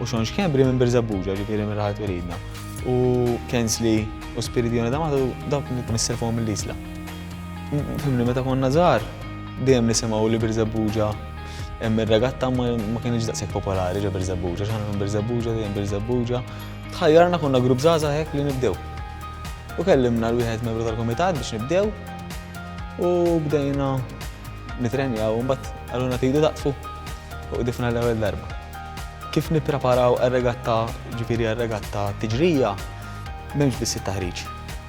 u Sean Schembri minn Birżebbuġa, ġifieri minn raħal twelidna, u Kensley u Spiridione D'Amato dawk li nisser fuqhom mill-Isla. Fimni meta konna żgħar, dejjem nisimgħu li Birżebbuġa hemm ir-regatta ma kienx daqshekk popolari ġo Birżebbuġa, x'aħna minn Birżebbuġa, dejjem Birżebbuġa. Tħajjarna konna grupp żgħażagħ hekk li nibdew. U kellimna l-wieħed membru tal-kumitat biex nibdew u bdejna nitrenjaw mbagħad għaluna tidu daqfu u qdifna l-ewwel darba. Kif nippreparaw għar-regatta, ġifieri għar-regatta tiġrija, m'hemmx biss it-taħriġ.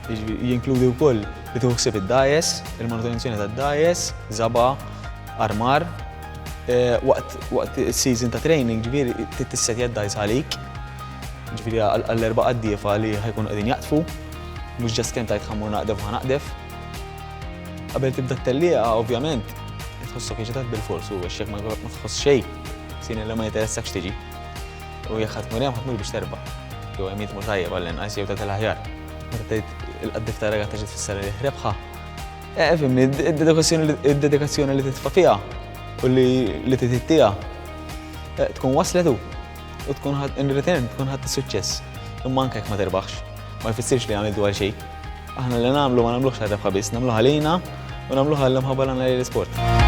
Jinkludi wkoll li tieħu ħsieb id-dajes, il-manutenzjoni tad-dajes, żaba, armar. Eh, waqt is-season ta' training, ġifieri tittissetja d-dajs għalik, ġifieri għall-erba' qaddiefa li ħajkun qegħdin jaqtfu, mhux ġast kemm tajt ħammur naqdef ħa naqdef. Qabel tibda t-tellieqa, ovvjament, tħossok iġitat bil-forsu, għax jekk ma tħoss xejn, Sinella ma jinteressakx tiġi. U jekk ħadd mur hemm ħadd mur biex terba'. Jew hemm jitmu tajjeb għall-inqas jew tagħti l-aħjar. Meta tgħid il-qaddif ta' ragazza ġiet fis-sala li rebħa. Eh, fimni, id-dedikazzjoni li titfa' fiha u li titittiha eh, tkun waslet u tkun ħadd in return tkun ħadd is-suċċess. Imma anke jekk ma terbaħx, ma jfissirx li għamiltu għal xejn. Aħna li nagħmlu ma nagħmluhx għal rebħa biss, nagħmluha lejna u nagħmluha l-imħabba nagħmlu l-isport.